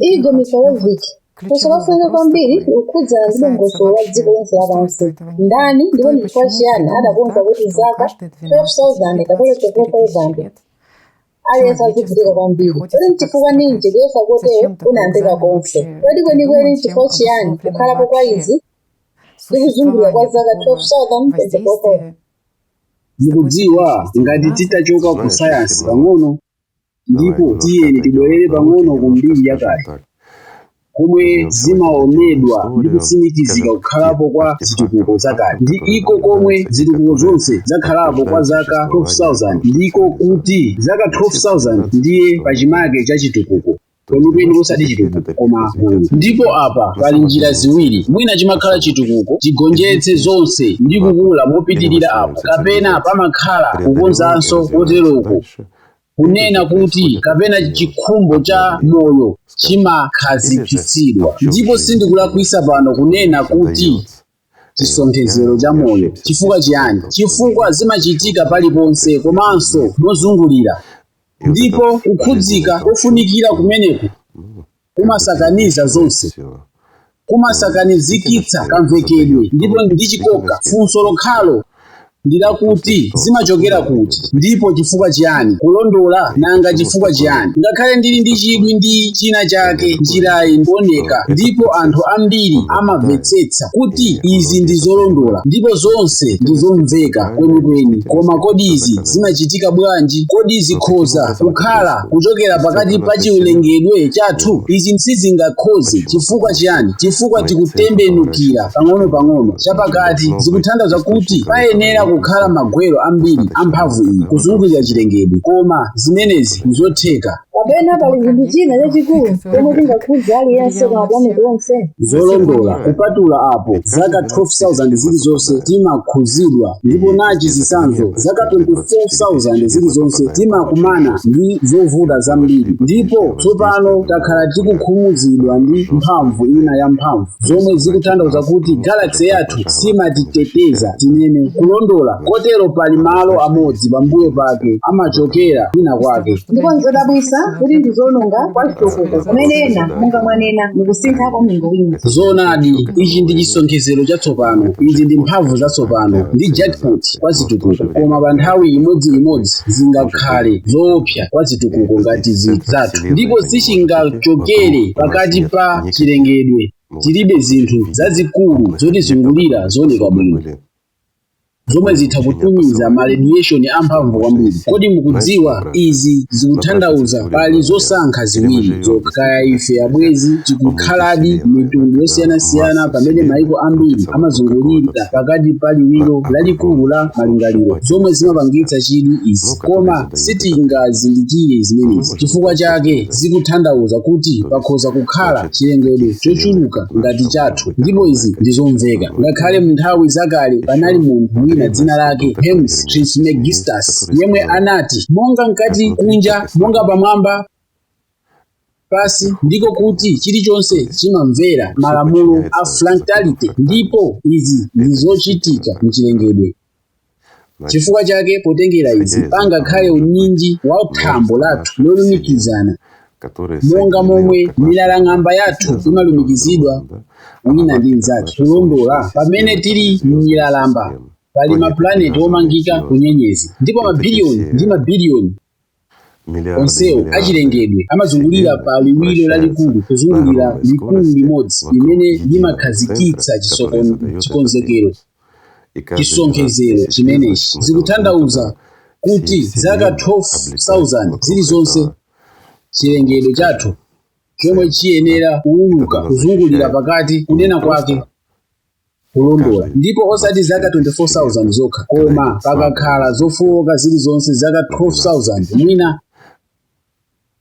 Igor Mikhailovic, funso lofunika kwambiri likukhudzana ndi dongosolo la dziko lonse lapansi. Ndani ndipo ndi chifukwa chiyani adakonza kuti zaka 12,000 kapena 13,000 aliyense azivutika kwambiri? Kodi n'chifukwa ninji kuyesa kotero kunayambika konse? Kodi kwenikweni n'chifukwa chiyani kukhalapo kwa izi ndi kuzungulira kwa zaka 12,000 Mukudziwa, ngati titachoka ku sayansi pang'ono, Ndipo tiyeni tibwerere pang'ono ku mbiri yakale, komwe zimawonedwa ndi kutsimikizika kukhalapo kwa zitukuko zakale. Ndi iko komwe, zitukuko zonse zakhalapo kwa zaka 12,000, ndiko kuti, zaka 12,000 ndiye pachimake cha chitukuko. kwenikweni osati chitukuko koma gulu ndipo apa pali njira ziwiri mwina chimakhala chitukuko chigonjetse zonse ndi kukula mopitirira apo kapena pamakhala kukonzanso koteroko kunena kuti kapena chikhumbo cha moyo chimakhazikitsidwa ndipo sindikulakwisa pano kunena kuti chisonkhezero cha moyo. Chifukwa chiyani? Chifukwa zimachitika paliponse komanso mozungulira, ndipo kukhudzika kofunikira kumeneku kumasakaniza zonse, kumasakanizikitsa kamvekedwe ndipo ndi chikoka. Funso lokhalo ndi lakuti zimachokera kuti ndipo chifukwa chiyani kulondola nanga chifukwa chiyani ngakhale ndili ndi chidwi ndi china chake njirayi ndiyooneka ndipo anthu ambiri amamvetsetsa kuti izi ndi zolondola ndipo zonse ndi zomveka kwenikweni koma kodi izi zimachitika bwanji kodi zikhoza kukhala kuchokera pakati pa chilengedwe chathu izi sizingakhoze chifukwa chiyani chifukwa tikutembenukira pang'ono-pang'ono chapakati zikutanthauza kuti payenera kukhala magwero ambiri a mphamvu iyi kuzungulira chilengedwe koma zimenezi nzotheka kapena pali chinthu china chachikulu chomwe chingakhudze aliyense pa mapulaneti onse zolondola kupatula apo zaka 12,000 zilizonse timakhuzidwa ndipo nachi chitsanzo zaka 24,000 zilizonse timakumana ndi zovuta zambiri ndipo tsopano takhala tikukhumuzidwa ndi mphamvu ina ya mphamvu zomwe zikutanthauza kuti galaxy yathu siimatiteteza tinene kulondola kotero pali malo amodzi pambuyo pake amachokera kwina kwake ndipo nzodabwisa kuti ndi zoononga kwa chitukuko pamene ena monga mwanena mukusintha kwa mlingo wina zoonadi ichi ndi chisonkhezero chatsopano izi ndi mphamvu zatsopano ndi jackpot kwa zitukuko koma pa nthawi imodzimodzi zingakhale zoopsa kwa zitukuko ngati zathu ndipo sichingachokere pakati pa chilengedwe tilibe zinthu zazikulu zotizungulira zooneka bwino zomwe zitha kutumiza ma radiation amphamvu kwambiri kodi mukudziwa izi zikutanthauza pali zosankha ziwiri zokha kaya ife abwenzi tikukhaladi mitundu yosiyanasiyana pamene maiko ambiri amazungulira pakati pa liwiro lalikulu la malingaliro zomwe zimapangitsa chidwi izi koma sitingazindikire zimenezi chifukwa chake zikutanthauza kuti pakhoza kukhala chilengedwe chochuluka ngati chathu ndipo izi ndi zomveka ngakhale mu nthawi zakale panali munthu wina dzina lake hermes trismegistus yemwe anati monga mkati kunja monga pamwamba pansi ndiko kuti chilichonse chimamvera malamulo a fractality ndipo izi ndi zochitika mchilengedwe chifukwa chake potengera izi pangakhale unyinji wa thambo lathu lolumikizana monga momwe milalang'amba yathu imalumikizidwa wina ndi mnzake kulondola pamene tili m'milalang'amba pali mapulaneti omangika kunyenyezi ndipo mabiliyoni ndi mabiliyoni Onsewo achilengedwe amazungulira pa liwiro lalikulu kuzungulira likulu limodzi limene limakhazikitsa chisokon, chikonzekero, chisonkhezero chimenechi. Zikutanthauza kuti zaka 12,000 zilizonse chilengedwe chathu chomwe chiyenera kuuluka kuzungulira pakati kunena kwake. kulondola ndipo osati zaka 24000 zokha koma pangakhale zofowoka zilizonse zaka 12000 mwina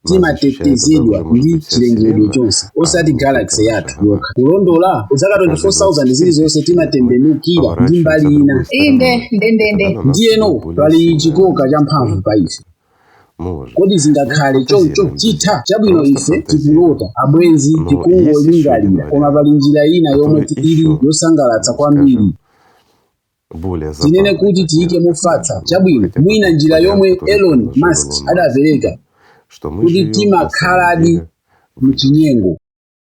timatetezedwa ndi chilengedwe chonse osati galaxy yathu yokha kulondola zaka 24000 zilizonse timatembenukirako ndi mbali ina inde ndendende ndiyeno pali chikoka champhamvu pa ife Kodi zingakhale choncho? Chitha. Chabwino, ife tikulota, abwenzi, tikungolingalira, koma pali njira ina yomwe ili yosangalatsa kwambiri. Tinene kuti tiyike mofatsa, chabwino, mwina njira yomwe Elon Musk adapereka, kuti timakhaladi mu chinyengo.